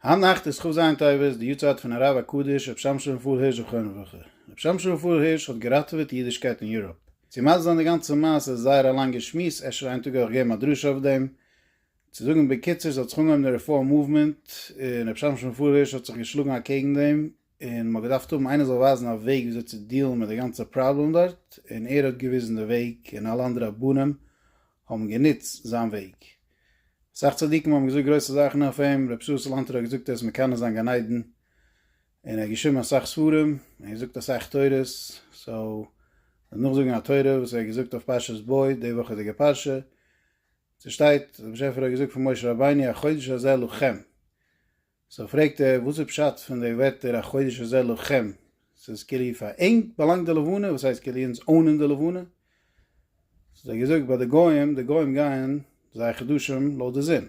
היינט נאכט איז כ' ז' טבת, די יארצייט פון הרב הקדוש רבי שמשון פאל הירש זכרונו לברכה. רבי שמשון פאל הירש האט געראטעוועט די אידישקייט אין יוראפ. צו מסביר זיין די גאנצע מעשה איז זייער א לאנגע שמועס, אפשר איין טאג אויך געבן א דרשה אויף דעם. צו זאגן בקיצור, ס'האט זיך אנגעהויבן די רעפארם מאוומענט, און רבי שמשון פאל הירש האט זיך געשלאגן אקעגן דעם, און מ'האט געדארפט האבן איינער זאל ווייזן א וועג וויאזוי צו דיעלן מיט די גאנצע פראבלעם דארט, און ער האט געוויזן די וועג און אלע אנדערע רבנים האבן גענוצט זיין וועג. אסאך צדיקים האבן געזאגט גרויסע זאכן אויף אים, ר' ישראל סאלאנטער האט געזאגט ער איז מקנא זיין גן עדן, און ער האט געשריבן אסאך ספרים, און געזאגט אסאך תורות, סאו דעם נאכזאגן א תורה וואס ער האט געזאגט אויף פרשת בא, די וואכעדיגע פרשה, ס'שטייט, דער באשעפער האט געזאגט פון משה רבינו החודש הזה לכם. סאו פרעגט ער וואס איז פשט פון די ווערטער החודש הזה לכם, ס'איז כאילו פאר ענק באלאנגט די לבנה, וואס הייסט כאילו אונז אונען די לבנה? ס'איז דאך געזאגט ביי די גוים, די גוים גייען זייער חדשים לויט די זון,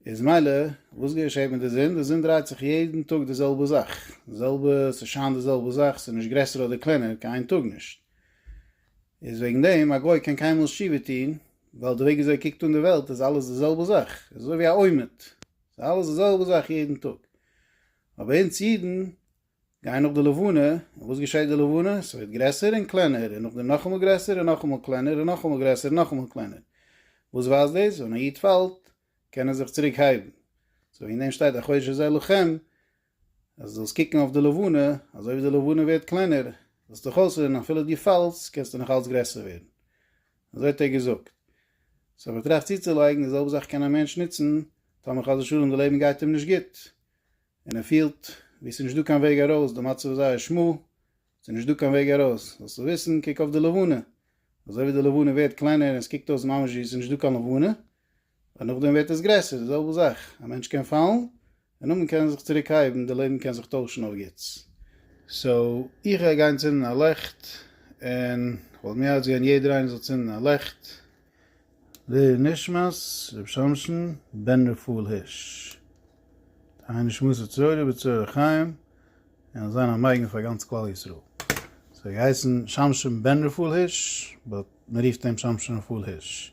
איז מילא וואס געשעהט מיט די זון? די זון דרייט זיך יעדן טאג די זעלבע זאך, די זעלבע, ס'שיינט די זעלבע זאך, ס'איז נישט גרעסער אדער קלענער קיין איין טאג נישט. איז וועגן דעם א גוי קען קיינמאל שיבה טון, ווייל די וועג וויאזוי ער קוקט אן די וועלט איז אלעס די זעלבע זאך, איז אזוי ווי א עומד, ס'איז אלעס די זעלבע זאך יעדן טאג. אבער אונז אידן גייען נאך די לבנה, און וואס געשעט די לבנה? ס'ווערט גרעסער און קלענער, און נאכדעם נאכאמאל גרעסער און נאכאמאל קלענער, און נאכאמאל גרעסער און נאכאמאל קלענער. וואס ווייזט דאס? ווען א איד פאלט קען ער זיך צוריק הייבן. סאו וועגן דעם שטייט החודש הזה לכם, אז דו זאלסט קוקן אויף די לבנה, אזוי ווי די לבנה ווערט קלענער, זאלסטו דיך אויסרוען, אפילו דו פאלסט, קענסטו נאך אלץ גרעסער ווערן. אזוי האט ער געזאגט. סאו מען טראכט צוצולייגן, די זעלבע זאך קען א מענטש נוצן, טאמער חס ושלום די לעבן גייט אים נישט גוט, און ער פילט ווי עס איז נישט דא קיין וועג ארויס, די מצב איז זייער שמו, ס'איז נישט דא קיין וועג ארויס. זאלסטו וויסן, קוק אויף די לבנה. אזוי ווי די לבנה ווערט קלענער און עס קוקט אויס ממש ווי עס איז נישט דא קיין לבנה, און נאכדעם ווערט עס גרעסער, די זעלבע זאך. א מענטש קען פאלן, און נאכדעם קען ער זיך צוריק הייבן, די לעבן קען זיך טוישן אויף גוטס. סאו, איך גיי גיין צינדן א לעכט, און כ'וואלט מיד געזען יעדער איינער זאל צינדן א לעכט. לנשמת רבי שמשון בן רפאל הירש תהא נשמתו צרורה בצרור החיים און זאל זיין א מגן פאר גאנץ כלל ישראל. ס'האט געהייסן שמשון בן רפאל הירש באט מ'רופט אים שמשון רפאל הירש.